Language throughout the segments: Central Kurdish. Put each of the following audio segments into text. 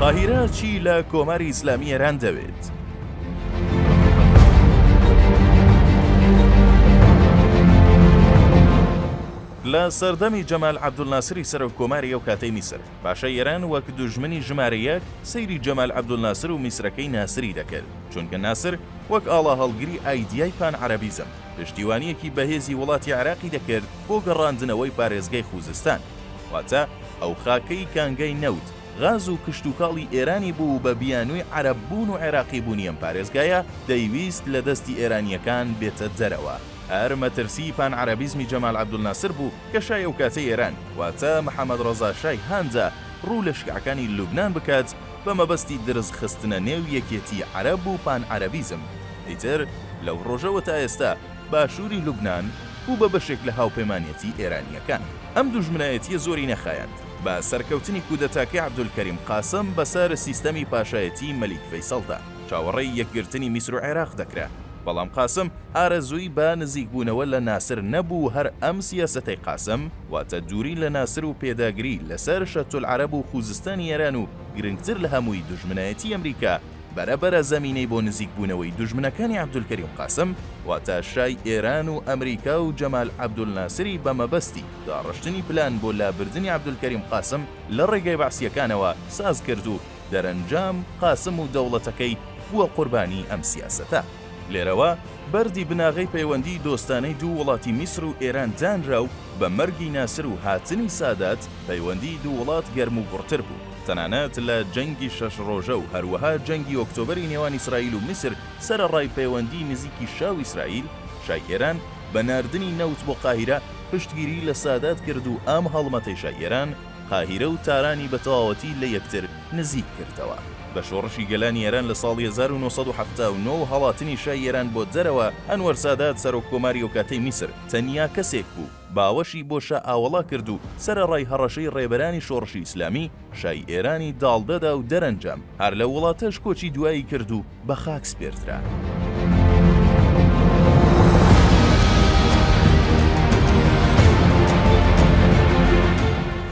قاهیرە چی لە کۆماری ئیسلامی ئێران دەوێت؟ لە سەردەمی جەمال عەبدولناسری سەرۆک کۆماری ئەو کاتەی میسر باشە ئێران وەک دوژمنی ژمارە یەک سەیری جەمال عەبدولناسر و میسرەکەی ناسری دەکرد چونکە ناسر وەک ئاڵا هەڵگری ئایدیای پان عەرەبیزم پشتیوانیەکی بەهێزی وڵاتی عێراقی دەکرد بۆ گەڕاندنەوەی پارێزگەی خوزستان واتە ئەو خاکەی کانگای نەوت، غاز و کشتوکاڵی ئێرانی بوو و بە بیانووی عەرەب بوون و عێراقی بوونی ئەم پارێزگایە دەیویست لە دەستی ئێرانییەکان بێتە دەرەوە. هەر مەترسیی پانعەرەبیزمی جەمال عەبدولناسر بوو کە شای ئەو کاتەی ئێران، واتە محەمەد ڕەزا شای هاندا ڕوو لە شیعەکانی لوبنان بکات بە مەبەستی درز خستنە نێو یەکێتیی عەرەب و پانعەرەبیزم. ئیتر لەو ڕۆژەوە تا ئێستا، باشووری لوبنان بوو بە بەشێک لە هاوپەیمانێتی ئێرانییەکان. ئەم دوژمنایەتییە زۆری نەخایاند بە سەرکەوتنی کودەتاکەی عەبدولکەریم قاسم بەسەر سیستەمی پاشایەتیی مەلیک فەیسەڵدا. چاوەڕێی یەکگرتنی میسر و عێراق دەکرا، بەڵام قاسم ئارەزووی بە نزیکبوونەوە لە ناسر نەبوو و هەر ئەم سیاسەتەی قاسم، واتە دووری لە ناسر و پێداگری لەسەر شەتولعەرەب و خووزستانی ئێران و گرنگتر لە هەمووی دوژمنایەتیی ئەمریکا، بەرە بەرە زەمینەی بۆ نزیک بوونەوەی دوژمنەکانی عەبدولکەریم قاسم واتە شای ئێران و ئەمریکا و جەمال عەبدولناسری بە مەبەستی داڕشتنی پلان بۆ لابردنی عەبدولکەریم قاسم لە ڕێگای بەعسییەکانەوە ساز کرد و دەرەنجام قاسم و دەوڵەتەکەی بووە قوربانی ئەم سیاسەتە. لێرەوە بەردی بناغەی پەیوەندیی دۆستانەی دوو وڵاتی میسر و ئێران دانرا و بە مەرگی ناسر و هاتنی سادات پەیوەندیی دوو وڵات گەرموگوڕتر بوو. تەنانەت لە جەنگی شەش ڕۆژە و هەروەها جەنگی ئۆکتۆبەری نێوان ئیسرائیل و میسر سەرەڕای پەیوەندیی نزیکی شا و ئیسرائیل، شای ئێران بە ناردنی نەوت بۆ قاهیرە پشتگیریی لە سادات کرد و ئەم هەڵمەتەی شای ئێران، قاهیرە و تارانی بە تەواوەتی لە یەکتر نزیک کردەوە. بە شۆڕشی گەلانی ئێران لە ساڵی هەزار و نۆ سەد و حەفتا و نۆ و هەڵاتنی شای ئێران بۆ دەرەوە، ئەنوەر سادات سەرۆککۆماری ئەوکاتەی میسر، تەنیا کەسێک بوو، باوەشی بۆ شا ئاوەڵا کرد و سەرەڕای هەڕەشەی ڕێبەرانی شۆڕشی ئیسلامی، شای ئێرانی داڵدەدا و دەرەنجام هەر لەو وڵاتەش کۆچی دوایی کرد و بە خاک سپێردرا.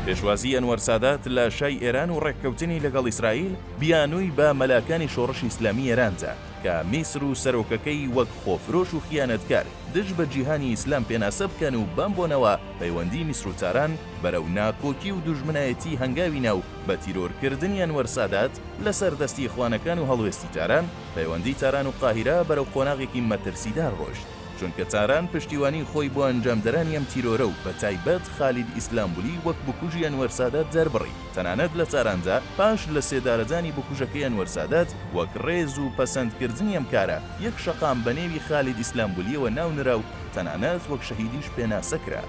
پێشوازیی ئەنوەر سادات لە شای ئێران و ڕێککەوتنی لەگەڵ ئیسرائیل، بیانووی بە مەلاکانی شۆڕشی ئیسلامیی ئێران دا، کە میسر و سەرۆکەکەی وەک خۆفرۆش و خیانەتکار، دژ بە جیهانی ئیسلام پێناسە بکەن و بەم بۆنەوە پەیوەندی میسرو تاران بەرەو ناکۆکی و دوژمنایەتی هەنگاوی نا و بە تیرۆر کردنی ئەنوەر سادات لەسەر دەستی ئیخوانەکان و هەڵوێستی تاران پەیوەندی تاران و قاهیرە بەرەو قۆناغێکی مەترسیدار ڕۆشت چونکە تاران پشتیوانی خۆی بۆ ئەنجامدەرانی ئەم تیرۆرە و بە تایبەت خالید ئیسلامبولی وەک بکوژی ئەنوەر سادات دەربڕی. تەنانەت لە تاراندا پاش لە سێدارەدانی بکوژەکەی ئەنوەر سادات، وەک ڕێز و پەسەندکردنی ئەم کارە، یەک شەقام بە نێوی خالید ئیسلامبولیەوە ناو نرا و تەنانەت وەک شەهیدیش پێناسە کرا.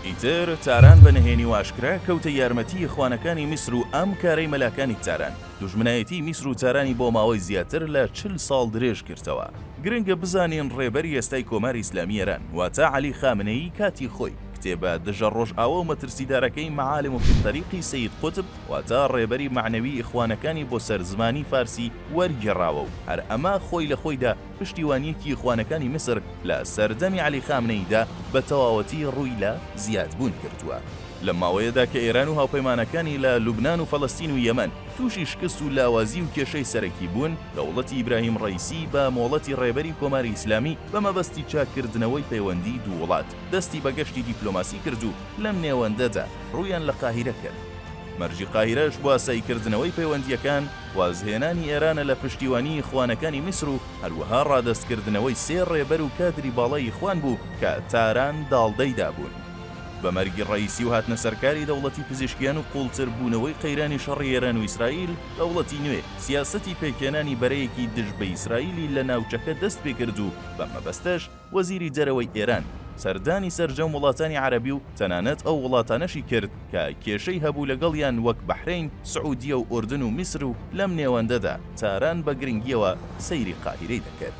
ئیتر تاران بە نهێنی و ئاشکرا کەوتە یارمەتی ئیخوانەکانی میسر و ئەم کارەی مەلاکانی تاران، دوژمنایەتیی میسر و تارانی بۆ ماوەی زیاتر لە چل ساڵ درێژ کردەوە. گرنگە بزانین ڕێبەری ئێستای کۆماری ئیسلامیی ئێران، واتە عەلی خامنەیی کاتی خۆی، کتێبە دژە ڕۆژئاوا و مەترسیدارەکەی معالم فی الطریق ی سەید قوتب واتە ڕێبەری مەعنەوی ئیخوانەکانی بۆ سەر زمانی فارسی وەرگێڕاوە و هەر ئەمە خۆی لە خۆیدا پشتیوانیەکی ئیخوانەکانی میسر لە سەردەمی عەلی خامنەیی دا بە تەواوەتی ڕووی لە زیاد بوون کردووە. لەم ماوەیەدا کە ئێران و هاوپەیمانەکانی لە لوبنان و فەلەستین و یەمەن تووشی شکست و لاوازی و کێشەی سەرەکی بوون، دەوڵەتی ئیبراهیم ڕەیسی بە مۆڵەتی ڕێبەری کۆماری ئیسلامی بە مەبەستی چاک کردنەوەی پەیوەندی دوو وڵات، دەستی بە گەشتی دیپلۆماسی کرد و لەم نێوەندەدا ڕوویان لە قاهیرە کرد. مەرجی قاهیرەش بواساییکردنەوەی پەیوەندییەکان، وازهێنانی ئێرانە لە پشتیوانیی ئیخوانەکانی میسر و هەروەها ڕادەستکردنەوەی سێ ڕێبەر و کادری باڵای ئیخوان بوو کە تاران داڵدەی دابوون. بە مەرگی ڕەئیسی و هاتنە سەرکاری دەوڵەتی پزیشکیان و قووڵتر بوونەوەی قەیرانی شەڕی ئێران و ئیسرائیل، دەوڵەتی نوێ سیاسەتی پێکهێنانی بەرەیەکی دژ بە ئیسرائیلی لە ناوچەکە دەست پێ کرد و بەم مەبەستەش، وەزیری دەرەوەی ئێران سەردانی سەرجەم وڵاتانی عەرەبی و تەنانەت ئەو وڵاتانەشی کرد کە کێشەی هەبوو لەگەڵیان وەک بەحرەین، سعودیە و ئوردن و میسر و لەم نێوەندەدا تاران بە گرنگییەوە سەیری قاهیرەی دەکرد.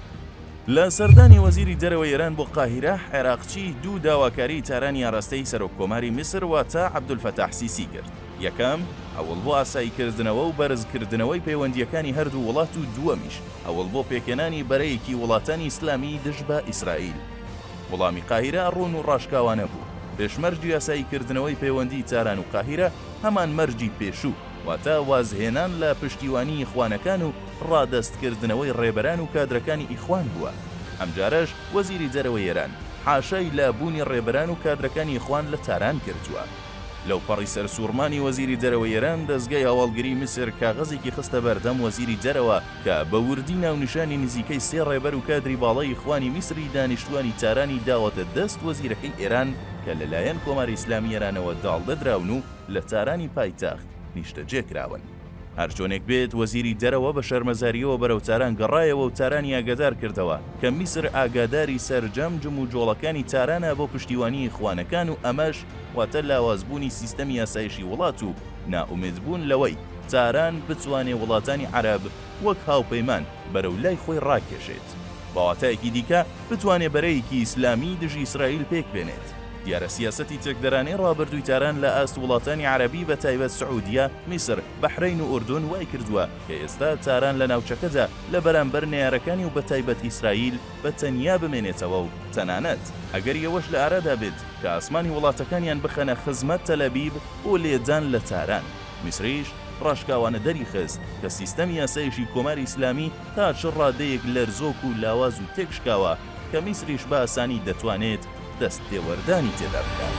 لە سەردانی وەزیری دەرەوەی ئێران بۆ قاهیرە، عێراقچی دوو داواکاریی تارانی ئاراستەی سەرۆککۆماری میسر واتە عەبدولفەتاح سیسی کرد. یەکەم، هەوڵ بۆ ئاساییکردنەوە و بەرزکردنەوەی پەیوەندییەکانی هەردوو وڵات و دووەمیش، هەوڵ بۆ پێکهێنانی بەرەیەکی وڵاتانی ئیسلامیی دژ بە ئیسرائیل. وڵامی قاهیرە ڕوون و ڕاشکاوانە بوو. پێشمەرجی ئاساییکردنەوەی پەیوەندیی تاران و قاهیرە هەمان مەرجی پێشوو، واتە وازهێنان لە پشتیوانیی ئیخوانەکان و ڕادەستکردنەوەی ڕێبەران و کادرەکانی ئیخوان بووە. ئەمجارەش وەزیری دەرەوەی ئێران حاشای لابوونی ڕێبەران و کادرەکانی ئیخوان لە تاران کردووە. لەوپەڕی سەرسووڕمانی وەزیری دەرەوەی ئێران، دەزگای هەواڵگریی میسر کاغەزێکی خستە بەردەم وەزیری دەرەوە کە بە وردی ناونیشانی نزیکەی سێ ڕێبەر و کادری باڵای ئیخوانی میسری دانیشتووانی تارانی داوەتە دەست وەزیرەکەی ئێران کە لەلایەن کۆماری ئیسلامیی ئێرانەوە داڵدە دراون و لە تارانی پایتەخت نیشتەجێ کراون. هەرچۆنێک بێت وەزیری دەرەوە بە شەرمەزارییەوە بەرەو تاران گەڕایەوە و تارانی ئاگادار کردەوە کە میسر ئاگاداری سەرجەم جموجۆڵەکانی تارانە بۆ پشتیوانیی ئیخوانەکان و ئەمەش واتە لاوازبوونی سیستەمی ئاسایشی وڵات و نائومێدبوون لەوەی تاران بتوانێ وڵاتانی عەرەب وەک هاوپەیمان بەرەو لای خۆی ڕاکێشێت. بە واتایەکی دیکە بتوانێ بەرەیەکی ئیسلامیی دژی ئیسرائیل پێک بێنێت. دیارە سیاسەتی چەکدەرانەی ڕابردووی تاران لە ئاست وڵاتانی عەرەبی بە تایبەت سعودیە، میسر، بەحرەین و ئوردون وای کردووە کە ئێستا تاران لە ناوچەکەدا لە بەرامبەر نەیارەکانی و بە تایبەت ئیسرائیل بە تەنیا بمێنێتەوە و تەنانەت ئەگەری ئەوەش لە ئارادا بێت کە ئاسمانی وڵاتەکانیان بخەنە خزمەت تەلەبیب بۆ لێدان لە تاران. میسریش ڕاشکاوانە دەریخست کە سیستەمی یاسایشی کۆماری ئیسلامی تا چ ڕادەیەک لەرزۆک و لاواز و تێکشکاوە کە میسریش بە ئاسانی دەتوانێت دەست تێوەردانی تێدا بکات.